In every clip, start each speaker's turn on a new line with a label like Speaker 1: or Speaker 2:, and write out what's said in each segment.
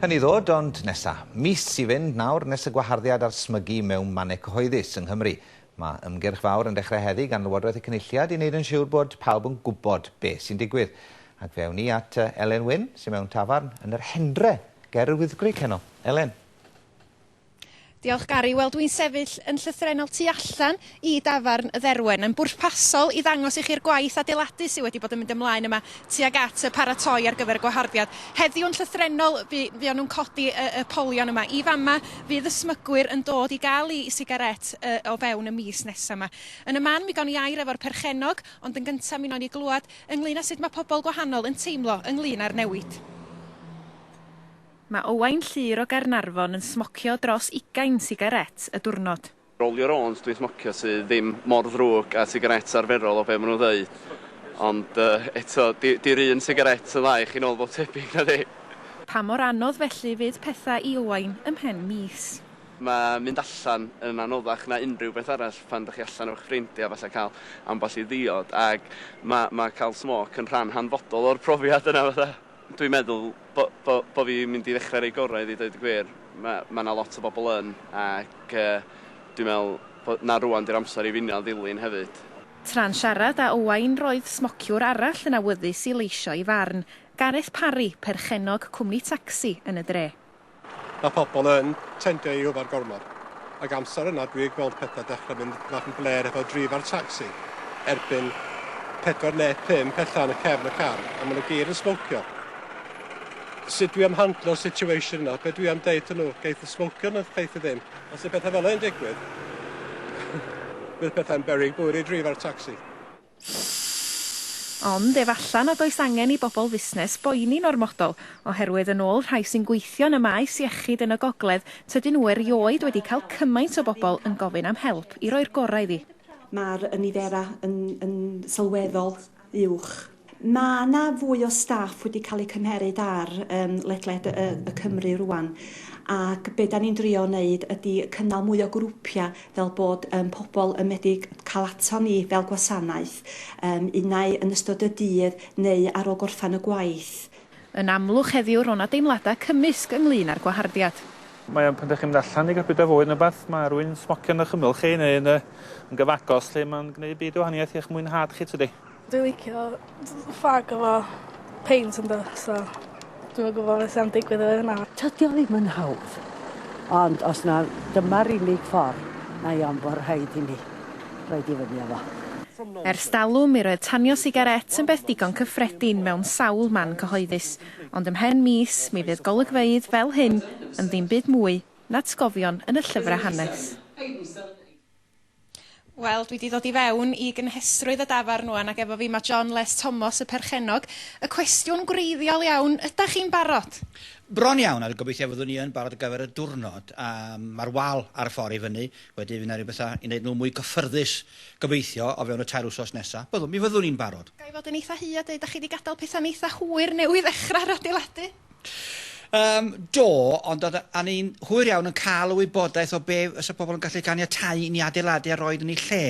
Speaker 1: Hynny ddod, ond nesa. Mis i fynd nawr nes y gwaharddiad ar smygu mewn mannau cyhoeddus yng Nghymru. Mae ymgyrch fawr yn dechrau heddi gan Lywodraeth y Cynulliad i wneud yn siwr bod pawb yn gwybod be sy'n digwydd. Ac fe awn ni at Elen Wyn, sy'n mewn tafarn yn yr Hendre ger yr Wyddgrug heno. Elen.
Speaker 2: Diolch Gary. Wel dwi'n sefyll yn llythrennol tu allan i dafarn y Dderwen. Yn bwrpasol i ddangos i chi'r gwaith adeiladu sydd wedi bod yn mynd ymlaen yma tuag at y paratoi ar gyfer y gwaharddiad. Heddiw yn llythrennol fu- fuon nhw'n codi y, y polion yma. I fama fydd y smygwyr yn dod i gael i, i sigaret y, o fewn y mis nesaf yma. Yn y man mi gawn ni air efo'r perchennog ond yn gyntaf mi wnawn ni glywed ynglyn â sut mae pobl gwahanol yn teimlo ynglyn â'r newid. Mae Owain Llŷr o Gaernarfon yn smocio dros ugain sigarét y diwrnod. Roll your owns dwi'n
Speaker 3: smocio sy ddim mor ddrwg a sigarét arferol o be ma nhw'n ddeud. Ond eto, 'di'r un sigarét yn dda i chi nôl bob tebyg, na 'di? Pa mor anodd
Speaker 2: felly fydd pethau i Owain ym mhen mis? Mae mynd
Speaker 3: allan yn anoddach na unrhyw beth arall pan dych chi allan efo'ch ffrindiau, falle cael ambell i ddiod, ac mae cael smôc yn rhan hanfodol o'r profiad yna. Dwi'n meddwl bo- bo- bo' fi'n mynd i ddechre roi gorau iddi deud y gwir. Ma' ma' 'na lot o bobl yn ac yy dwi'n meddwl bo- na rŵan 'di'r amser i finio a ddilyn hefyd. Tra'n siarad
Speaker 2: â Owain roedd smociwr arall yn awyddus i leisio ei farn, Gareth Parry, perchennog cwmni tacsi yn y dre. Mae pobl
Speaker 4: yn tendio i yfed gormod ac amser yna dwi yn gweld pethau dechrau mynd bach yn blêr efo drif a'r tacsi erbyn pedwar neu pump ella yn y cefn y car a maen nhw gyd yn smocio. Sut dwi am handlo'r situation yna? Be dwi am deud wrthyn nhw? Geith y smocio neu geith y ddim? Os yw pethau fel hyn yn digwydd bydd pethau'n beryg bwyd i drif a'r tacsi.
Speaker 2: Ond efalla nad oes angen i bobl fusnes boeni'n ormodol, oherwydd yn ôl rhai sy'n gweithio yn y maes iechyd yn y gogledd, tydyn nhw erioed wedi cael cymaint o bobl yn gofyn am help i roi'r gorau iddi. Mae'r niferau
Speaker 5: yn yn sylweddol uwch. Mae 'na fwy o staff wedi cael eu cymheryd ar yym ledled y y Cymru rŵan, ac be' 'dan ni'n drio wneud ydi cynnal mwy o grwpiau fel bod yym pobl yn medru cael ato ni fel gwasanaeth, yym unai yn ystod y dydd neu ar ôl gorffen y gwaith. Yn amlwg
Speaker 2: heddiw ro' 'na deimladau cymysg ynglŷn â'r gwaharddiad. Mae o'n pan 'dach chi'n
Speaker 6: mynd allan i gael bita fwyd ne' wbath, ma' rywun smocio yn 'ych ymyl chi neu yn y yn gyfagos lly, ma'n gneud byd o wahaniaeth i'ch mwynhad chi tydi? Dwi licio
Speaker 7: fag efo peint a petha so dwi'm yn gwbo be' sy am digwydd efo hynna. Tydi o ddim yn
Speaker 8: hawdd, ond os na dyma'r unig ffor, mae o'n bo rhaid i ni roid i fyny â fo. Ers dalwm,
Speaker 2: mi roedd tanio sigarét yn beth digon cyffredin mewn sawl man cyhoeddus, ond ymhen mis, mi fydd golygfeydd fel hyn yn ddim byd mwy n'atgofion yn y llyfrau hanes. Wel, dwi 'di ddod i fewn i gynhesrwydd y dafarn rwan ac efo fi mae John Les Tomos, y perchennog. Y cwestiwn gwreiddiol iawn, ydach chi'n barod? Bron iawn, a
Speaker 9: gobeithio fyddwn ni yn barod ar gyfer y diwrnod. A mae'r wal ar y ffordd i fyny, wedyn fydd 'na ryw bethau i wneud nhw mwy cyffyrddus, gobeithio, o fewn y tair wsos nesa. Byddwn, mi fyddwn ni'n barod. Ga i fod yn eitha' hy a deud, dach chi
Speaker 2: 'di gadael pethau'n eitha' hwyr newydd ddechrau adeiladu? Yym,
Speaker 9: do, ond oedd... a ni'n hwyr iawn yn cael y wybodaeth o be fysa pobl yn gallu caniatáu i ni adeiladu a roid yn ei lle.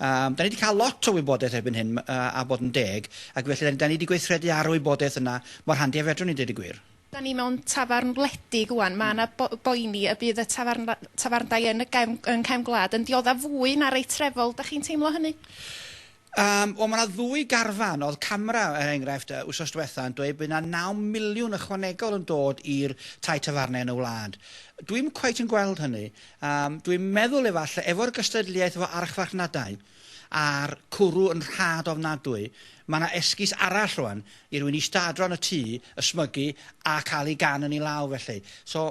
Speaker 9: Yym, da ni wedi cael lot o wybodaeth erbyn hyn, a a bod yn deg, ac felly da da ni wedi gweithredu ar y wybodaeth yna mor handi a fedrwn ni, deud y gwir. Da ni mewn
Speaker 2: tafarn wledig ŵan, mae yna bo- boeni y bydd y tafarn- tafarndai yn y gefn- yng nghefn gwlad yn dioddef fwy na rei trefol, da chi'n teimlo hynny? Yym,
Speaker 9: wel, mae yna ddwy garfan. Oedd CAMRA, er enghraifft, yy wythnos diwetha' yn dweud bydd yna naw miliwn ychwanegol yn dod i'r tai tafarnau yn y wlad. Dwi'm cweit yn gweld hynny. Yym, dwi'n meddwl efallai, efo'r gystadleuaeth efo archfarchnadau a'r cwrw yn rhad ofnadwy, mae yna esgus arall rŵan i rywun ista adra yn y tŷ, ysmygu a cael ei gan yn ei law felly. So,